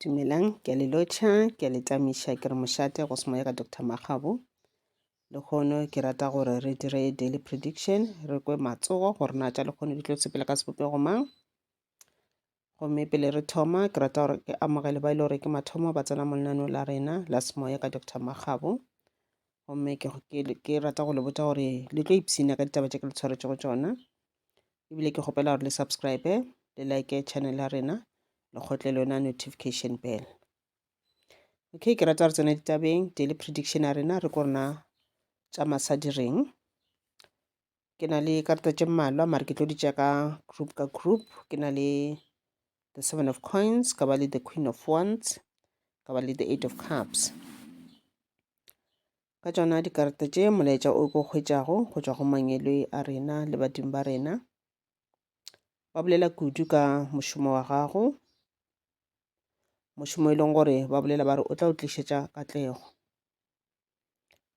dumelang ke a le lotšha ke a le tamiša ke re mošate go se moyega dr magabo le kgono ke rata gore re dire daily prediction re kwe matsogo gore na tša le kgono di tlo sepela ka sebopego mang gomme pele re thoma ke rata gore ke amogele ba e le gore ke mathomo ba tsena mo lenaneo la rena la semoya ka dr magabo gomme ke rata go le botsa gore le tlo ipshina ka ditaba tše ke le tshwaretšego tsona ebile ke kgopela gore le subscribe le like channel ya rena le kgotle le yona notification bell okay ke rata re tsena ditabeng daily prediction ya rena re ko rena tša masadi reng ke na le karata tše mmalwa mare ke tlo di tša ka group ka group ke na le the seven of coins ka ba le the queen of wands ka ba le the eight of cups ka tšona dikarata tše molaetša o ko kgwetšago go tšwa go mangwelwe a rena le badimo ba rena ba bolela kudu ka mošomo wa gago mošomo e leng gore ba bolela ba re o tla o tlišetša katlego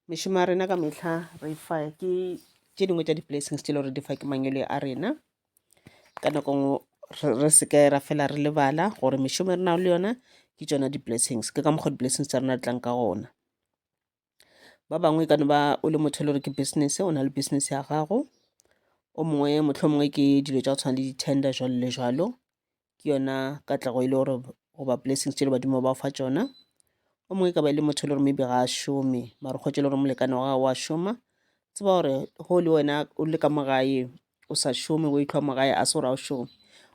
mešomo ya rena ka mehla re fa ke tše dingwe tša di-blessings tše le gore di fa ke mangwele a rena ka nako ngwe re seke ra fela re lebala gore mešomo e re nago le yona ke tšona di-blessings ke ka mokgwa di-blessings tsa rena di tlang ka gona Ba bangwe e ka no ba o le motho e le gore ke business, o na le business ya gago. O mongwe mohlomongwe ke dilo tša go tshwana le di-tender jwalo le jwalo, ke yona katlego e le gore goba blessings tše le badimo ba o fa tšona. O mongwe e ka ba e le motho e le gore maybe ga a šome mare o kgwetše e le gore molekane wa gagwe wa šoma, tseba gore ge o le wena o le ka mo gae o sa šome o itlhwa mo gae a se gore a o šome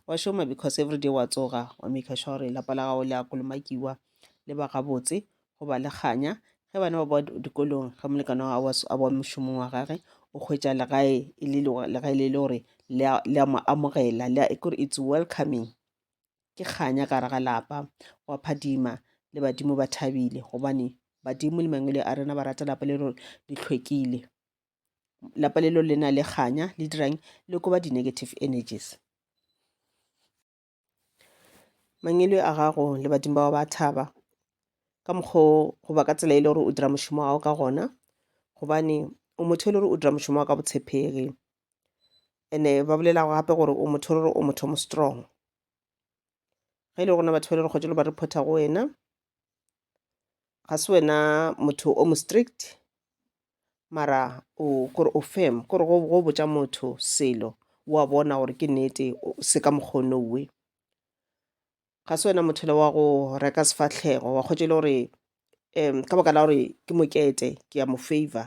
wa šoma because every day wa tsoga wa make sure gore lapa la gago le a kolomakiwa le ba gabotse go ba le kganya ge bana ba boa dikolong ge molekano a boa mošomong wa gage o hwetša legae e le legae le le gore le a mo amogela le a kore it's welcoming ke kganya ka gare ga lapa wa phadima le badimo ba thabile gobane badimo le mangwele a rena ba rata lapa le rore le hlwekile lapa lelo le na le kganya le dirang le koba di-negative energies mangele a gago le badimo bao ba thaba ka mokgwa goba ka tsela e le gore o dira mošomo wa gago ka gona gobane o motho e le gore o dira mošomo wa ka botshepegi ene ba bolelago gape gore o motho e le gore o motho mo strong ge e le gona batho ba le re kgotšelo ba reporta go wena ga se wena motho o mo strict mara o kore o firm kore go go botša motho selo wa bona gore ke nnete o- se ka mokgono we ga se wena motho le wa go reka sefahlego wa kgotse e le gore um ka baka la gore ke mokete ke a mo favor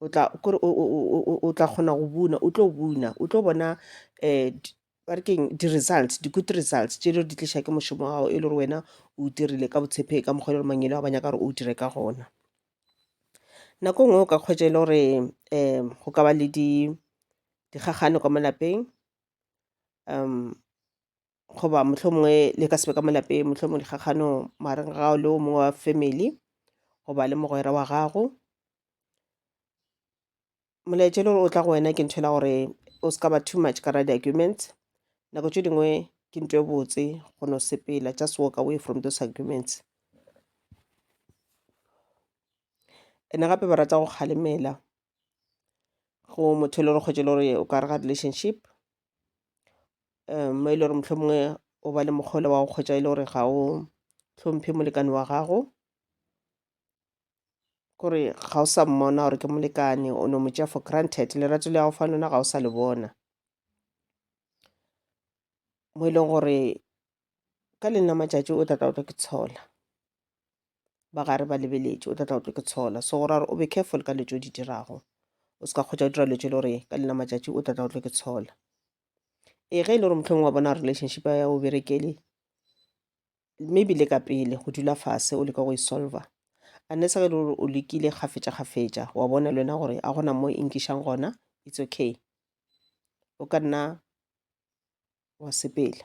o tla kore o tla kgona go buna o tlo buna o tlo bona um ba re keng di-results di-good results tše le di tliša ke mošomo gago e le gore wena o dirile ka botshephe ka mokgwa e le gore mangele a ba nyaka gore o dire ka gona nako e nngwe o ka kgwetša e le gore um go ka ba le dikgakgano ka mo lapeng um goba mohlomongwe le ka sebe ka mo lapeng mohlomongwe dikgakgano magareng gago le o mongwe wa family goba le mogwera wa gago molaetša le gore o tla go wena ke ntho ela gore o se ka ba too much ka ra di-arguments nako tše dingwe ke nto e botse go no sepela just walk away from those arguments ene gape ba rata go kgalemela go motho e le gore kgwetše le gore o ka re ga relationship um mo e le gore mohlomongwe o ba le mokgole wa go kgwetša e le gore ga o hlomphe molekane wa gago kore ga o sa mmona gore ke molekane o no mo tšea for granted lerato le ya go fa lona ga o sa le bona mo e leng gore ka lena matšatši o tla tla o tlo ke tshola ba gare ba lebeletše o tla tla o tlo ke tshola so gore o be careful ka letšo di dirago o se ka kgotsa o dira letšo le gore ka lena matšatši o tla tla o tlo ke tshola ee ge e le gore mohlong wa bona relationship ya o berekele maybe le ka pele go dula fase o leka go e solver unless ge e le gore o lekile kgafetša kgafetša wa bona le wena gore a gona mo e nkišang gona it's okay o ka nna wa sepela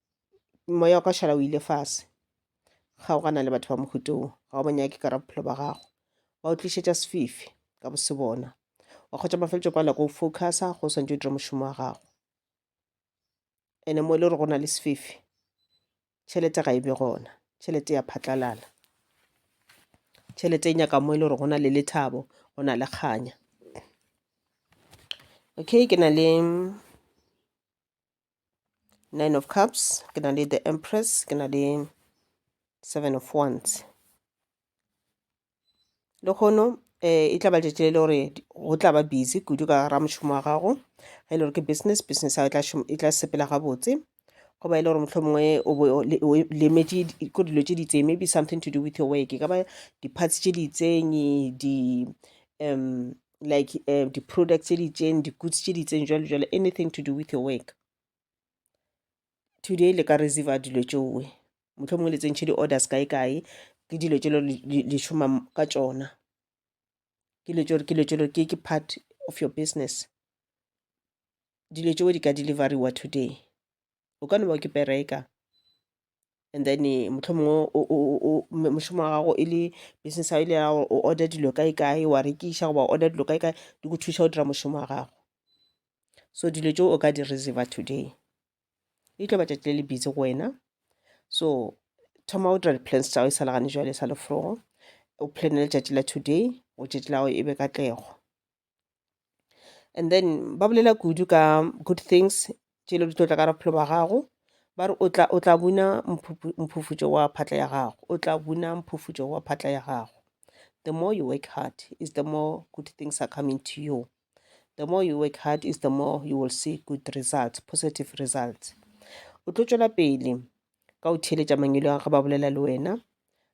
moya wa ka šala o ile fase kgaogana le batho ba mohuto wo ga o banyake ka ra bophelo ba gago ba o tlišetša sefifi ka bose bona wa kgotša mafeletšo kwa lako o focusa go swantse o dira mošomo wa gago ene mo e le gore go na le sefifi tšhelete ga e be gona tšhelete ya phatlalala tšhelete e nyaka mo e le gore go na le lethabo go na le kganya okay ke na le nine of cups ke na le the empress ke na le seven of wands le kgono um eh, e tla ba letšatši le le gore go tla ba busy kudu ka ra mošomo wa gago ge e le gore ke business business ya e tla e sepela gabotse go ba e le gore motlho mongwe o lemetše ko dilo tše di itseng maybe something to do with your work e ka ba di-parts tše di itseng di um like uh, di-products tse di itseng di-goods tse di itseng jalo jalo anything to do with your work today le ka reserva dilo tšeoe motlho mongwe le tsentšhe di-orders kae kae ke dilo tšelo le šoma ka tšona ke dilo tšelo ke dilo tšelo ke ke part of your business dilo tšeo di ka deliveriwa today o ka no ba ke pereka and then eh, motlho mongwe mošomo wa gago e le business ya ile ya gore o order dilo kae kae wa rekiša goba order dilo kae kae di go thuša go dira mošomo wa gago so dilo tšeo o ka di reserva today e tlo batšatši le le busy go wena so thoma o dira di-plans tšago e sa legane jwale e sa leforogo o plane letšatši la today go tšatši la go e be katlego And then ba bolela kudu ka good things tše e lego di tlo tla ka gare ga bophelo bja gago, ba re o tla, o tla buna mphufutšo wa phatla ya gago, o tla buna mphufutšo wa phatla ya gago. The more you work hard is the more good things are coming to you, the more you work hard is the more you will see good results, positive results. O tlo tšwela pele ka go theeletša mangwelo a ge ba bolela le wena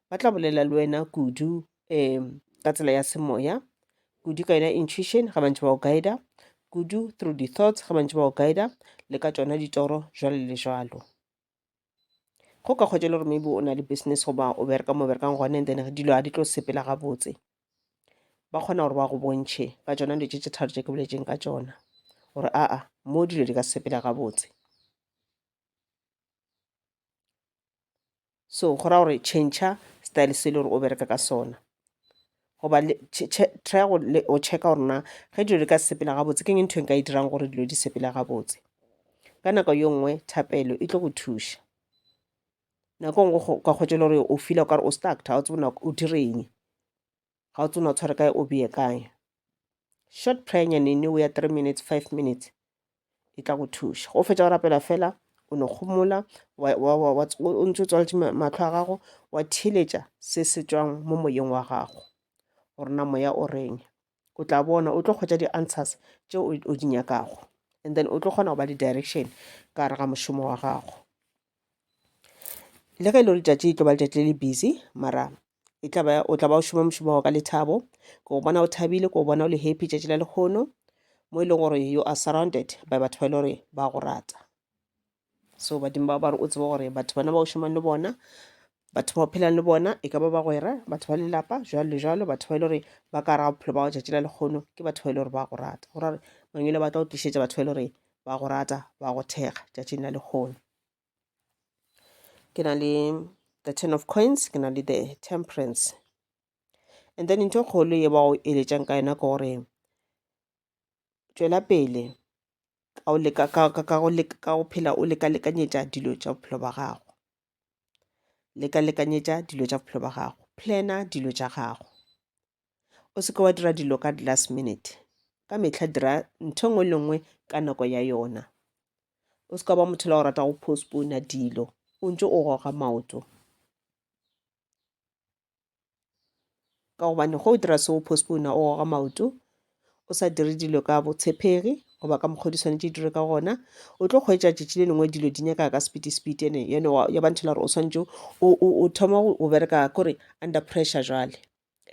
ba tla bolela le wena kudu um ka tsela ya semoya kudu ka yona intuition ga bantse ba go guida kudu through di-thoughts ga bantse ba go guida le ka tsona ditoro jwalo le jwalo go ka kgwetša le gore maybe o na le business goba o bereka mo berekang gone then dilo ga di tlo sepela gabotse ba kgona gore ba go bontšhe ka tsona dilo tše tše tharo tše ke boletseng ka tsona gore aa mo dilo di ka sepela gabotse so go ra gore change style se le gore o bereka ka sona goba try go o checka gore na ge dilo di ka sepela gabotse ke eng ntho e nka e dirang gore dilo di sepela gabotse ka nako yo nngwe thapelo e tlo go thuša nako e nngwe ka kgwetšele gore o fila o kare o stuck ga o tsebo nako o direng ga o tsona tshware kae o beye kae short prayer nyanene o ya three minutes five minutes e tla go thuša go fetša go rapela fela o no kgomola o ntse o tswaletše matlho a gago wa theletša se se tswang mo moyeng wa gago gore na moya o reng o tla bona o tlo kgwetša di-answers tše o di nyakago and then o tlo kgona go ba le direction ka gare ga mošomo wa gago Le ge e le gore letšatši e tlo ba letšatši le le busy mara e tla ba o tla ba o šoma mošomo wa ka lethabo ke go bona o thabile ke go bona o le happy tšatši la lekgono mo e leng gore you are surrounded by batho ba e le gore ba go rata so badimo ba ba re o tsebe gore batho bana ba o šomang le bona batho ba o phelang le bona e ka ba bagwera batho ba lelapa jalo le jalo batho ba e le gore ba ka raga bophelo ba go tšatši la lekgono ke batho ba e le gore ba go rata go ra gore mangwele ba tla o tlišetša batho ba e le gore ba go rata ba go thekga tšatšing la lekgono ke na le the ten of coins ke na le the temperance and then ntho e kgolo ye ba go eletšang ka yona ke gore tšwela pele ka go leka- ka- ka- ka go leka- ka go phela o lekalekanyetša dilo tša bophelo ba gago Leka-lekanyetša dilo tša bophelo ba gago. Plana dilo tša gago. O se ke wa dira dilo ka last minute. Ka mehla dira ntho nngwe le nngwe ka nako ya yona. O se ka ba motho la go rata go postpona dilo o ntse o goga maoto. ka gobane go o dira se o postpone o goga maoto o sa dire dilo ka botshepegi goba ka mokgwa di swanetše dire ka gona o tlo kgwetsa tšatši le lengwe dilo di nyaka ka speedy speed ene yone ya ba ntho la gore o swanetše o thoma go bereka kore under pressure jale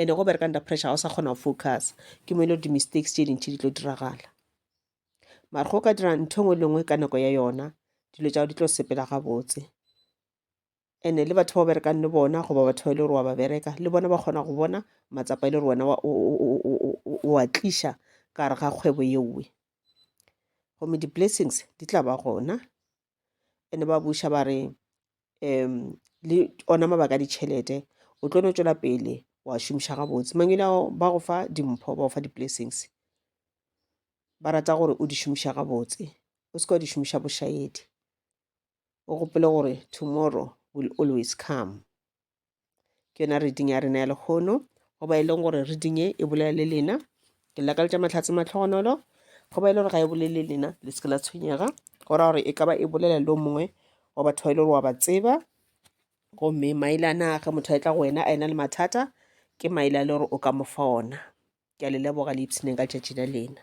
ene go bereka under pressure ga o sa kgona go focus ke mo e le gore di-mistakes tše dintšhi di tlo diragala mare go ka dira ntho e nngwe le nngwe ka nako ya yona dilo tša go di tlo sepela gabotse ene le batho ba berekang le bona goba batho ba e le gore wa ba bereka le bona ba kgona go bona matsapa e le gore wena wa tliša ka gare ga kgwebo yeowe gomme di-blessings di tla ba gona ene ba buša ba re um le ona mabaka a ditšhelete o tlo no tšwela pele wa šomiša gabotse mangwele ao ba go fa dimpho ba go fa di-blessings ba rata gore o di šomiša gabotse o se ka wa di šomiša bošaedi o gopole gore tomorrow will always come ke yona reading ya rena ya lekgono go ba e leng gore reading e e bolela le lena ke lakaletša mahlatse matlhogonolo go ba e le gore ga e bolele lena le seke la tshwenyega go ra gore e ka ba e bolela le o mongwe wa batho ba e le gore wa ba tseba gomme maelana ge motho a e tla go wena a ena le mathata ke maela le gore o ka mo fa ona ke a le leboga le ipshineng ka tšatši la lena